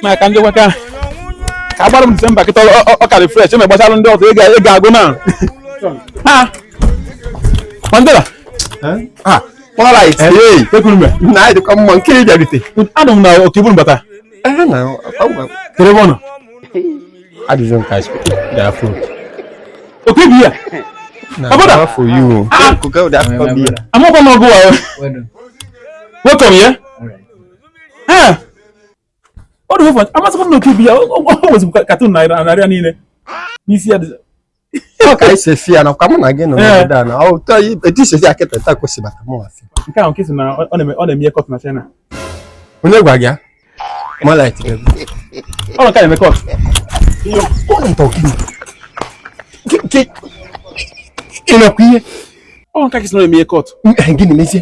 na ka ndị nwoke ahụ ka agbara m December kịta ọ karị fresh eme gbasara ndị ọzọ ị ga-agụ na ha mandela ha Alright. Hey, ekwuru m na anyị dịkwa mma nke ị bịarute. Anọ m na Okiburu mbata. Ee na kere ebe ọ nọ. Adịghị m ka asị daa fon. Okibu ya. Abụda. Na for you. Amakwa m ọ gụwa. Welcome ya. ọ dị ụfọdụ amasịkwa m n'oke ibi ya o nwezikwa katun n'arụ ya niile n'isi ya ọ ka isi efi ya nakwa mụ na gị nọ n'obodo a na ọ ụtọ etu isi efi ya kịta taa kwesị bata mụ asị nke ahụ Nkị sị na ọ na-eme ihe cult na China onye gwa gị ya mọlaịt ọ nọ ka na-eme cult ị na-ekwu ihe ọ Nkị sị na ọ na-eme ihe cult gịnị mezie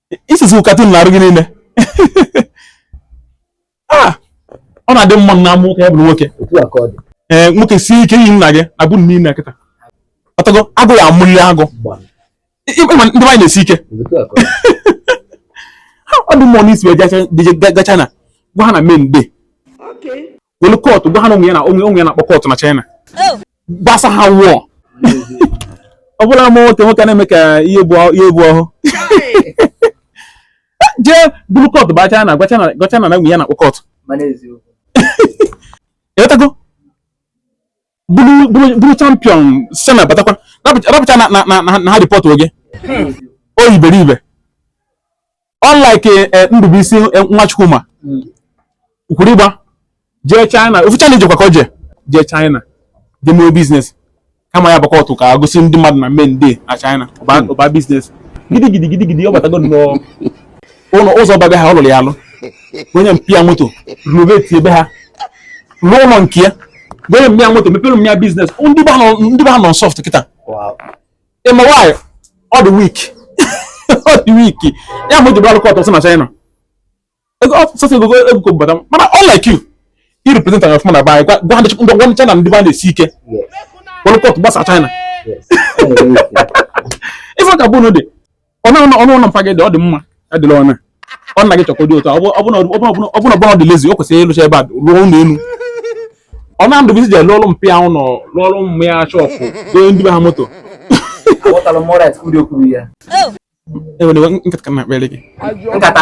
i sesi katun n'arụ gị niile ah! ọ na-adị mma na a mụ nwa ka ya bụrụ nwoke ee eh, nwoke sie ike i yi nna gị abụ nne nna kịta ọtago agụ ya amụli agụ ndị be anyị na-esi ike ọ dị mmụọ na i si ebe a gaa China gwa ha na men dey welu cult gwa ha na o nwe ihe a na o nwe o nwe ihe a na-akpọ cult na China oh. gbasa ha wụọ ọ bụla ma nwoke nwoke na-eme ka ihe bụ ọhụụ jee buru cult ba China gwa China gwa China na o nwe ihe a na-akpọ cult bụrụ champion China batakwa rapụcha na ha ripọtụọ gị onye iberibe unlike eh, Ndubuisi eh, nwa Chukwuma kwuru ịgba jee China ofu China i jekwa ka o jee jee China jee mee business kama ya ba cult ka o gosi ndị mmadụ na men dey na China ọ ba business gidigidi gidigidi ọ batago nnọọ ụlọ ụzọ ba be ha ọ lụrụ ya alụ o nye mpa ya moto renovate ebe ha lụọ ụlọ nke ya o nye mpa ya moto mepere mma ya business ndị be ha nọ soft kịta ị ma why ọ dị weak ọ dị weak ya mere o ji barọ cult na China sọsọ ego ego ka o bata mana unlike you i represent ọfụma bịa gwa gwa ndị gwa ndị China ndị be anyị na-esi ike welu cult gbasa China ị fụ ka be unu dị ụnọ ụnọ ụlọ mpa gị dị ọ dị mma adịla ọna ọ nna gị Chukwudi otu ọ bụ na ọ bụ na ọ dị lazy o kwesịrị ịlụcha ebe a rụọ ụlọ elu ọ na Ndubuisi je lụọlụ mpa ya ụnọ lụọlụ mma ya shọpụ nye ndị be ha moto enwere nkata ka na-akpere gị nkata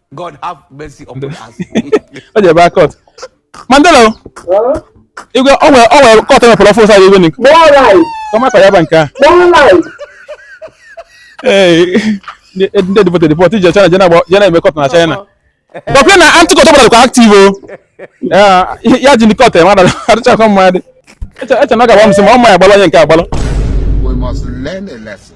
God have mercy upon us. o ji ebe akọt Mandela igwe o nwere o nwere cult mepụrụ ọfụ ụsa igwe nik More life, ka maka ya ba nke a more life. ee ndị ndị deportụ deportụ ije China je na-agba- je na-eme cult na China dọkịta na anti-cult ọbụla dịkwa active o Ya- ya ji ndị cult ya mmadụ adịchakwa mma dị eche eche na ọ ga-agba m sị ma ọ ma ya agbalụ onye nke agbalụ We must learn a lesson.